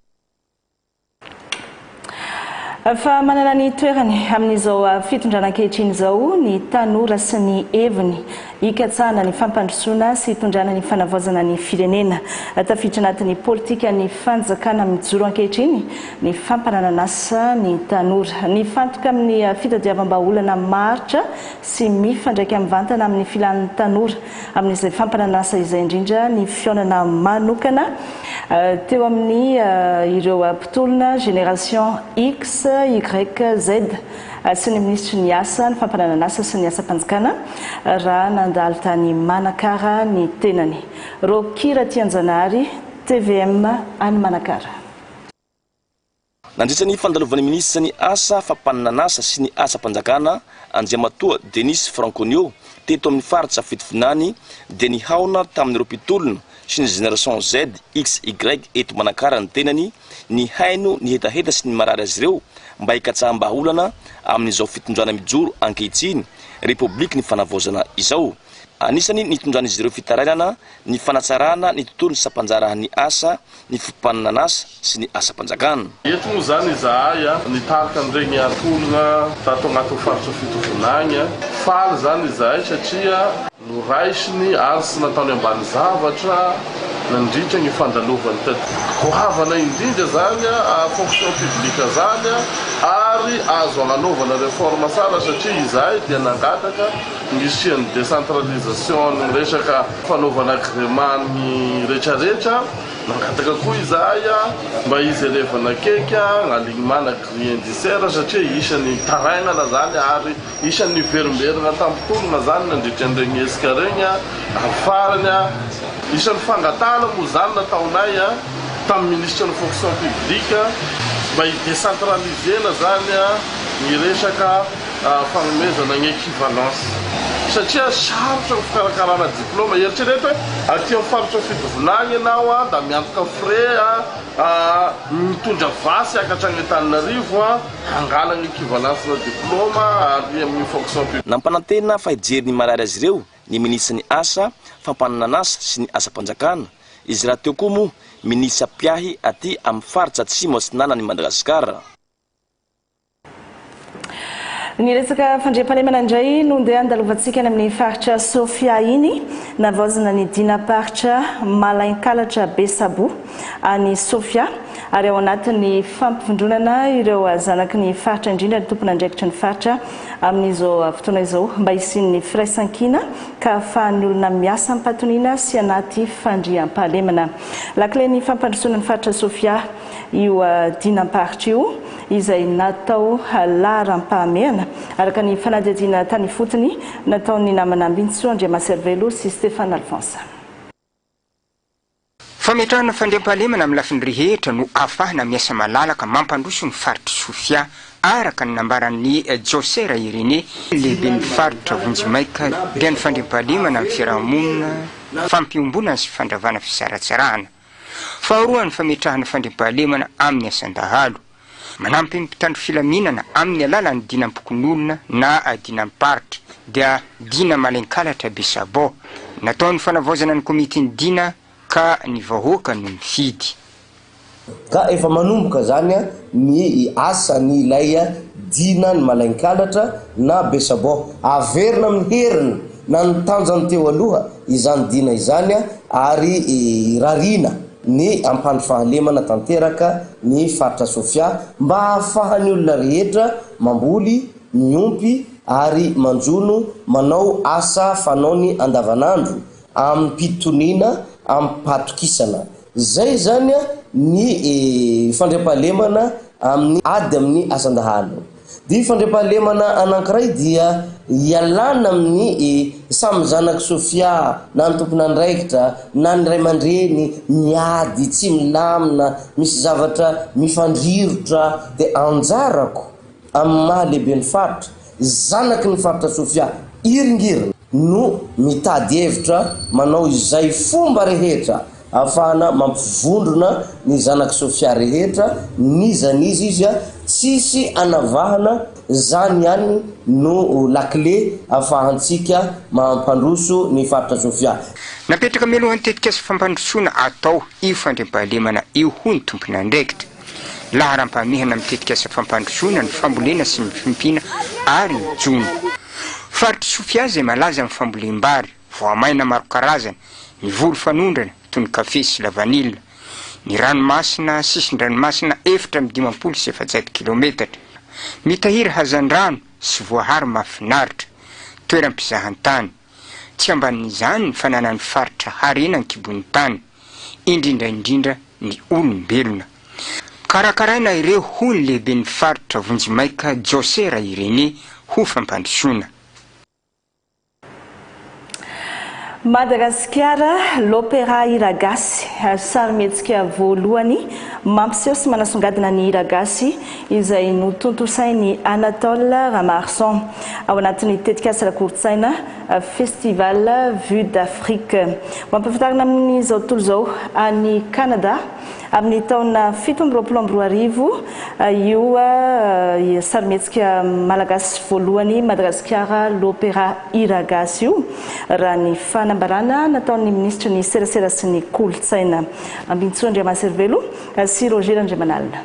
Efa manana ny toerany amin'izao fitondrana ankehitriny izao ny tanora sy ny heviny hikatsahana ny fampandrosoana sy hitondrana ny fanavaozana ny firenena. Tafiditra anatin'ny politikan'ny fanjakana mijoro ankehitriny ny fampananan'asa ny tanora. Nifantoka amin'ny fitadiavam-bahaolana maharitra sy mifandraika mivantana amin'ny filan'ny tanora amin'izay fampanan'asa izay indrindra ny fihaonana manokana teo amin'ny ireo mpitolona Génération X, Y, Z sy ny minisitry ny Asa, ny Fampananan'asa sy ny Asam-panjakana raha nandalo tany Manakara ny tenany. Rocky Ratianjanahary, tvm any Manakara. Nandritra ny fandalovan'ny minisitra ny asa fampaninan'asa sy ny asam-panjakana, Andriamatoa Denis Franconio, teto amin'ny faritra Fitovinany, dia nihaona tamin'ireo mpitolona sy ny Génération Z, X, Y eto Manakara ny tenany, nihaino ny hetaheta sy ny marary azy ireo mba hikatsaham-bahaolana amin'izao fitondrana mijoro ankehitriny, Repoblikin'ny Fanavaozana izao. Anisany nitondran'izy ireo fitarainana ny fanatsarana ny tontolon'ny sampanjarahan'ny asa ny fifaninan'asa sy ny asam-panjakana. Eto moa izany izahay nitarika an'ireny ankolona tato anatin'ny faritra fito vinany. Faly izany izahay satria noraisiny ary tsy nataony ambany zavatra nandritra ny fandalovany teto. Goavana indrindra izany fonction publique izany ary azo agnanaovana reforme tsara satria izahay dia nangataka Ny hisian'ny décentralisation ny resaka fanaovana agrément ny rehetra rehetra, nangataka koa izahay mba hijerevana akaiky ny alignement na grille indiciaire satria isan'ny tarainana izany ary isan'ny niverimberina an-tampon-tolona izany nandritra an'iregny hetsika iregny ary farany isan'ny fangatahana moa izany nataonay tamin'ny ministra ny fonction publique mba hi-décentraliser-na izany ny resaka fanomezana ny équivalence satria sarotra ny fikarakarana diplôma, eritrereto hoe aty amin'ny faritra Fidovina agny ianao a da miantoka frais a, mitondra vasy hiakatra agny Antananarivo a, hangalagna équivalence na diplôma ary amin'ny fonction publique. Nampanantena fa hijery ny marary azy ireo ny minisitry ny Asa, fampananan'asa sy ny asam-panjakana, izy rahateo koa moa minisitra mpiahy aty amin'ny faritra Atsimo Atsinanan'i Madagasikara. Ny resaka fandriampahalemana indray no ndeha handalovantsika any amin'ny faritra Sofia iny. Navaozina ny dinam-paritra Malainkalatra Besabo any Sofia ary ao anatin'ny fampivondronana ireo zanaky ny faritra indrindra ny tompon'andraikitry ny faritra amin'izao fotoana izao mba hisian'ny firaisankina ka hahafahan'ny olona miasa am-patoniana sy anaty fandriampahalemana. Lakilen'ny fampandrosoana ny faritra Sofia io dinam-paritra io. izay natao laharam-pahamehana, araka ny fanadihadiana tany ifotony nataon'ny namana Ambinintsoa Andriamaservelo sy Stéphane Alphonse. Fametrahana fandriampahalemana amin'ny lafiny rehetra no ahafahana miasa malalaka mampandroso ny faritr'i Sofia, araka ny nambaran'i Josera Irénée, lehiben'ny faritra vonjimaika, dia ny fandriampahalemana amin'ny fiarahamonina, fampiombonana sy fandravana fisaratsarahana. Faharoa ny fametrahana fandriampahalemana amin'ny asan-dahalo. Manampy ny mpitandro filaminana amin'ny alalan'ny dinam-pokonolona na dinam-paritra, dia Dina Malenkalatra Besabo. Natao ny fanavaozana ny komitin'ny Dina ka ny vahoaka no nifidy. Ka efa manomboka izany ny asan' ilay Dina ny Malenkalatra na Besabo. Averina amin'ny heriny Na ny tanjany teo aloha izany dina izany ary irariana ny ampandry fahalemana tanteraka ny faritra Sofia mba hahafahan'ny olona rehetra mamboly, miompy ary manjono manao asa fanaony andavanandro amim-pitoniana amim-pahatokisana. Izay izany ny fandriampahalemana amin'ny ady amin'ny asan-dahalo. Ny fandriampahalemana anankiray dia ialana amin'ny samy zanak'i Sofia na ny tompon'andraikitra na ny ray aman-dreny miady tsy milamina, misy zavatra mifandrirotra, dia anjarako amin'ny maha lehiben'ny faritra, zanaky ny faritra Sofia iringiriny. no mitady hevitra manao izay fomba rehetra ahafahana mampivondrona ny zanak'i Sofia rehetra n'iza n'iza izy a, tsisy anavahana, zany ihany no lakile afahantsika mahampandroso ny faritra Sofia. Napetraka mialohan'ny tetikasa fampandrosoana atao io fandriampahalemana io hoy ny tomponandraikitra. laharam-pahamehana amin'ny tetikasa fampandrosoana ny fambolena sy ny fiompiana ary ny jono. Faritr'i Sofia izay malaza amin'ny fambolem-bary, voamaina maro karazana, ny voly fanondrana, toy ny kafe sy lavanila, ny ranomasina, sisin-dranomasina efatra amby dimampolo sy efajato kilometatra, mitahiry hazandrano sy voahary mahafinaritra, toeram-pizahantany. Tsy ambanin'izany ny fananan'ny faritra harena an-kibon'ny tany, indrindra indrindra ny olombelona. Karakaraina ireo hoy ny lehiben'ny faritra vonjimaika Jose Rairene ho fampandrosoana. Madagasikara, L'Opéra Hiragasy, sarimihetsika voalohany mampiseho sy manasongadina ny hiragasy izay notontosain'i Anatol Ramaharson ao anatin'ny tetikasa ara-kolontsaina Festival Vue d'Afrique. Ho ampahafantarina amin'izao tontolo izao any Kanada amin'ny taona fito amby roapolo amby roa arivo io sarimihetsika malagasy voalohany Madagasikara L'Opéra Hira Gasy io, raha ny fanambarana nataon'ny minisitry ny Serasera sy ny Kolontsaina, Ambinintsoa Andriamaserivelo sy Roger Randriamanalina.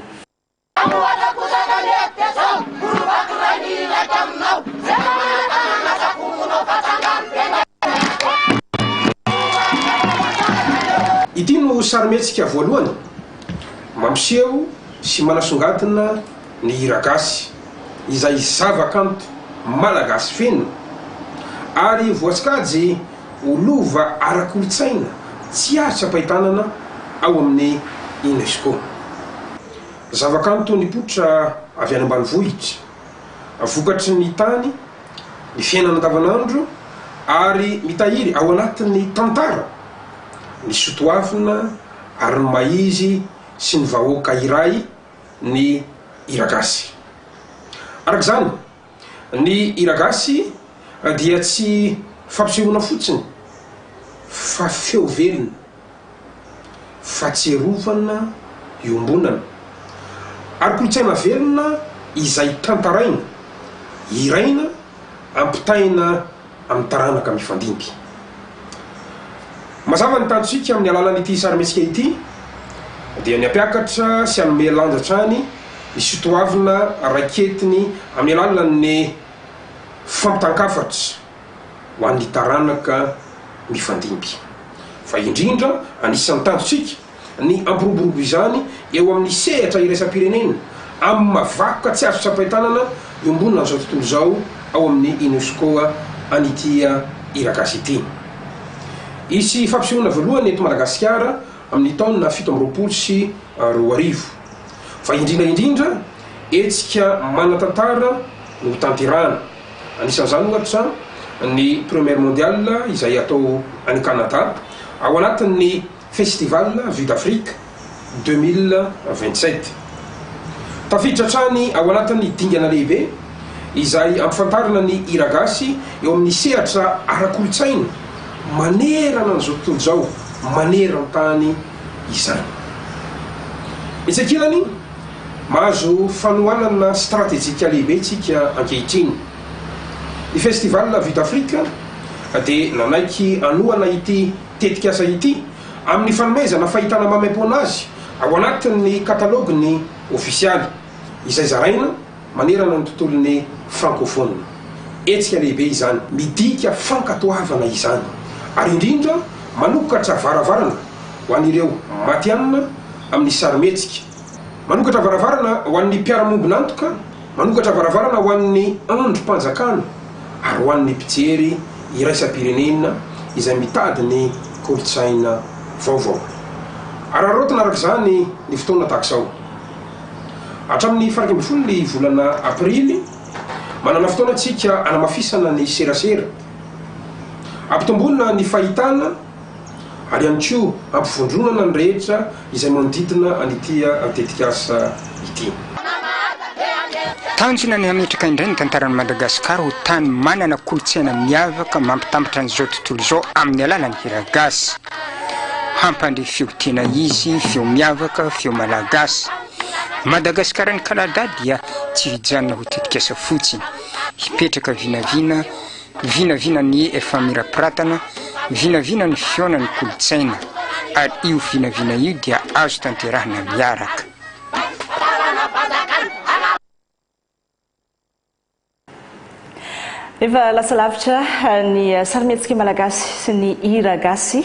Ity no sarimihetsika voalohany mampiseho sy manasongadina ny hiragasy izay zavakanto malagasy feno ary voasokajy. ho lova ara-kolontsaina tsy azo tsapain-tanana ao amin'ny UNESCO. Zavakanto nipoitra avy any ambanivohitra, vokatry ny tany, ny fiainana andavanandro ary mitahiry ao anatin'ny tantara ny sotoavina ary ny maha-izy sy ny vahoaka iray ny hiragasy. Araka izany, Ny hiragasy dia tsy fampisehoana fotsiny fa feo velona, fahatsiarovana iombonana, ary kolontsaina velona izay tantaraina, hiraina, ampitaina amin'ny taranaka mifandimby. Mazava ny tanjontsika amin'ny alalan'ity sarimihetsika ity dia ny hampiakatra sy hanome lanja hatrany ny sotoavina raiketiny amin'ny alalan'ny fampitan-kafatra ho an'ny taranaka mifandimby. Fa indrindra, anisan'ny tanjontsika ny hampiroborobo izany eo amin'ny sehatra iraisam-pirenena amin'ny maha vakoka tsy azo tsapain-tanana iombonana amin'izao tontolo izao ao amin'ny Unesco an'ity hira gasy ity. Hisy fampisehoana voalohany eto Madagasikara amin'ny taona fito amby roapolo sy roa arivo. Fa indrindra indrindra, hetsika manan-tantara no hotanterahana. Anisan'izany ohatra ny Première Mondiale izay hatao any Canada ao anatin'ny Festival Vue d'Afrique deux mille vingt-sept. Tafiditra hatrany ao anatin'ny dingana lehibe izay ampifantarina ny hiragasy eo amin'ny sehatra ara-kolontsaina manerana an'izao tontolo izao maneran-tany izany. Etsy ankilany, mahazo fanohanana stratejika lehibe isika ankehitriny. Ny Festival Vue d'Afrique dia nanaiky hanohana ity. tetikasa ity amin'ny fanomezana fahitana maimaim-poana azy ao anatin'ny katalôginy ofisialy izay zaraina manerana ny tontolon'ny frankôfôna. Hetsika lehibe izany. Midika fankatoavana izany ary indrindra manokatra varavarana ho an'ireo matihanina amin'ny sarimihetsika, manokatra varavarana ho an'ny mpiara-miombon'antoka, Manokatra varavarana ho an'ny andrim-panjakana ary ho an'ny mpijery iraisam-pirenena izay mitady ny kolontsaina vaovao. Araraotina araka izany ny fotoana tahaka izao. Hatramin'ny faha-iraika ambin'ny folo ny volana Aprily, manana fotoana isika hanamafisana ny serasera, hampitomboana ny fahitana, ary ihany koa hampivondronana ny rehetra izay manodidina an'ity tetikasa ity. Tanjona ny hametraka indray ny tantaran'i Madagasikara ho tany manana kolontsaina miavaka mampitambatra an'izao tontolo izao amin'ny alalan'ny hiragasy. Hampandre feo tena izy, feo miavaka, feo malagasy. Madagasikara'ny Kanada dia tsy hijanona ho tetikasa fotsiny, hipetraka vinavina, Vinavina ny efa mirapiratana, vinavina ny fihaonan'ny kolontsaina, ary io vinavina io dia azo tanterahina miaraka. Efa lasa lavitra ny sarimihetsika malagasy sy ny hira gasy.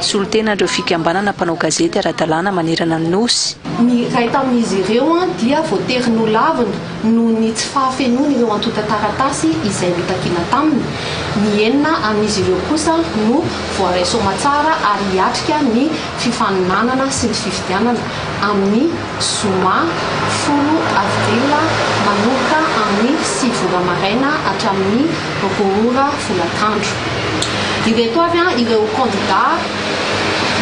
Solontenan'ireo fikambanana mpanao gazety ara-dalàna manerana ny Nosy. Ny iray tamin'izy ireo dia voatery nolavina noho ny tsy fahafenoany ireo antontan-taratasy izay notakiana taminy. Ny enina amin'izy ireo kosa no voaray soamantsara ary hiatrika ny fifaninanana sy ny fifidianana amin'ny zoma folo avril manomboka amin'ny sivy ora maraina hatramin'ny roapolo ora folakandro. Ireto avy ireo kandidà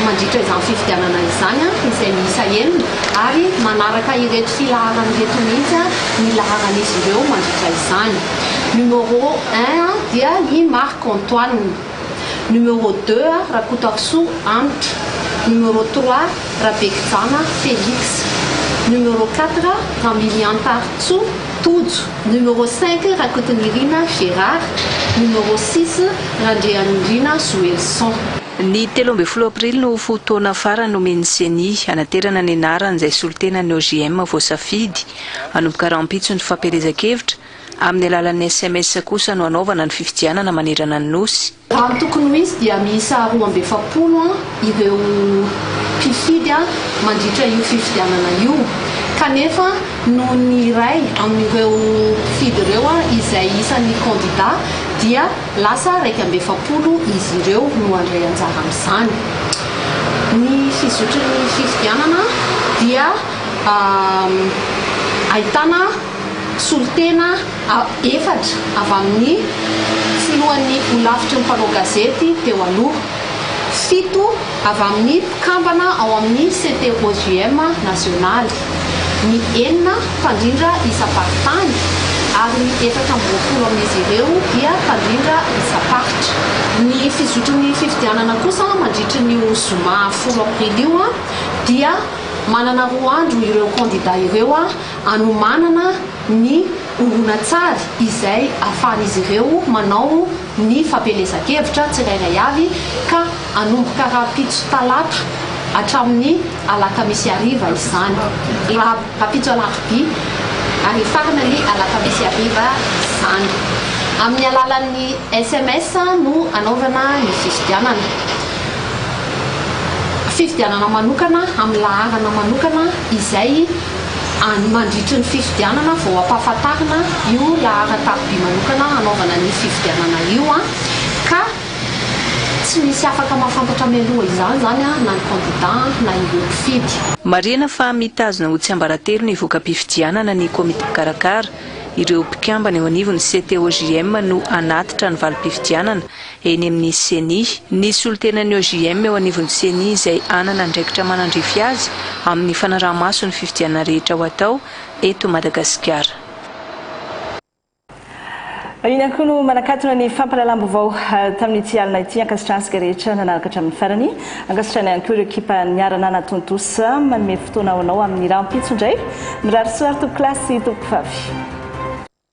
mandritra izany fifidianana izany, izay miisa enina, ary manaraka ireto filaharana ireto mihitsy ny laharan'izy ireo mandritra izany. Numéro un dia i Marc Antoine. Numéro deux, Rakotoarisoa Hanitra. Numéro trois, Rabekijana Felix. Numéro quatre, Ramiliantarintsoa Tojo. Numéro cinq, Rakotonirina Gérard, Numéro six, Randrianirina Joelison. Ny telo ambin'ny folo aprily no fotoana farany nomen'ny Ceni hanaterana ny anaran'izay solontenan'ny OJM voasafidy hanomboka rahampitso ny fampielezan-kevitra, amin'ny alalan'ny sms kosa no hanaovana ny fifidianana manerana ny Nosy. Raha ny tokony ho izy dia miisa roa amby efapolo ireo mpifidy mandritra io fifidianana io kanefa noho ny iray amin'ireo mpifidy ireo izay isan'ny kandida dia lasa iraika amby efapolo izy ireo no handray anjara amin'izany. Ny fizotry ny fifidianana dia ahitana. Solontena efatra avy amin'ny filohan'ny Holafitry ny mpanao gazety teo aloha, fito avy amin'ny mpikambana ao amin'ny CTOJM nasionaly, ny enina mpandrindra isam-paritany ary ny efatra amby roapolo amin'izy ireo dia mpandrindra isam-paritra. Ny fizotry ny fifidianana kosa mandritry an'io zoma folo aprily io dia manana roa andro ireo kandida ireo. hanomanana ny horonantsary izay ahafahan'izy ireo manao ny fampielezan-kevitra tsirairay avy ka hanomboka rahampitso talata hatramin'ny alakamisy hariva izany, rahampitso alarobia ary hifarana ny alakamisy hariva izany. Amin'ny alalan'ny sms no hanaovana ny fifidianana. Fifidianana manokana amin'ny laharana manokana izay. Any mandritry ny fifidianana vao hampahafantarina io laharan-tariby manokana hanaovana ny fifidianana io ka tsy misy afaka mahafantatra mialoha izany izany na ny kandida na ireo mpifidy. Marihina fa mitazona ho tsiambaratelo ny voka-pifidianana ny komity mpikarakara. Ireo mpikambana eo anivon'ny CTOJM no hanatitra ny valim-pifidianana eny amin'ny Ceni. Ny solontenan'ny OJM eo anivon'ny Ceni izay hanana andraikitra manandrify azy amin'ny fanaraha-maso ny fifidianana rehetra ho atao eto Madagasikara. Iny ihany koa no manakatona ny fampahalalam-baovao tamin'ity alina ity. Ankasitrahana antsika rehetra nanaraka hatramin'ny farany. Ankasitrahana ihany koa ireo ekipa niara-nanatontosa. Manome fotoana ho anao amin'ny rahampitso indray. Mirary soa ary tompokolahy sy tompokofavy.